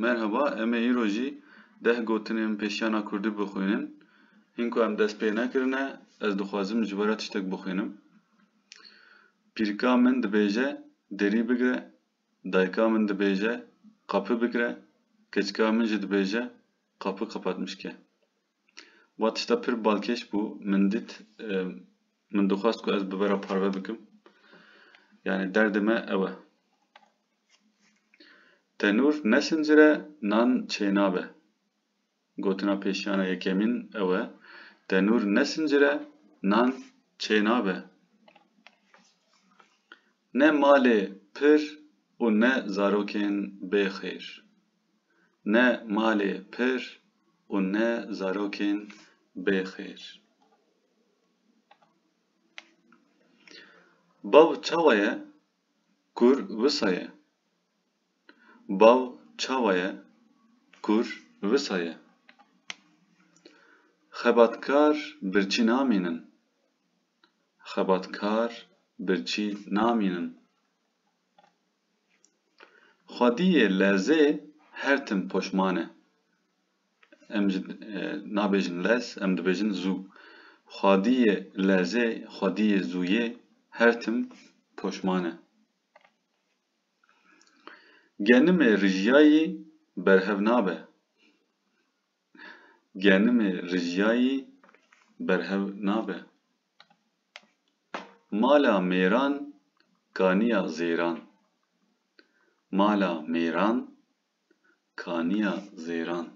Merheba, em ê îro jî deh gotinên pêşiyana kurdî bixwînin. Hîn ku em dest pê nekirine, ez dixwazim ji we re tiştek bixwînim. Pîrka min dibêje, Derî bigire, dayika min dibêje, Qapı bigire, keçika min jî dibêje, Qapı kapatmış ke. Wa tişta pir balkêş bû, min dît, min dixwest ku ez bi vera parve bikim. Yanî derdê me ew e. Tenûr nesincire, nan çê nabe. Gotina pêşiyana yekemîn ew e, tenûr nesincire, nan çê nabe. Ne malê pir û ne zarokên bêxeyr. Ne malê pir û ne zarokên bêxêr. Bav çawa ye? Kur wisa ye? Bav çawa ye? Kur wisa ye? Xebatkar birçî namînin. Xebatkar birçî namînin. Xwediyê lezê her tim poşman e. Em ji nabêjin lez, em dibêjin zû. Xwediyê lezê, xwediyê zûyê her tim poşman e. Genimê rijiyayî berhev nabe. Genimê rijiyayî berhev nabe. Mala mêran kaniya zêran. Mala mêran kaniya zêran.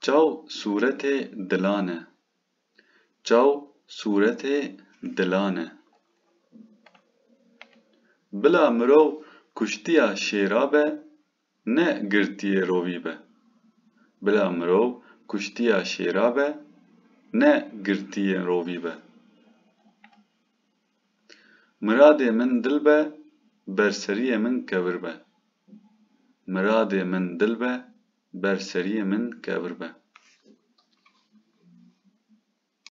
Çaw sûretê dilan e. Çaw sûretê dilan e. Bila mirov kuştiya şêra be, Ne girtiyê rovî be. Bila mirov kuştiya şêra be ne girtiyên rovî be. Miradê min dil be ber seriyê min kevir be. Miradê min dil be ber seriyê min kevir be.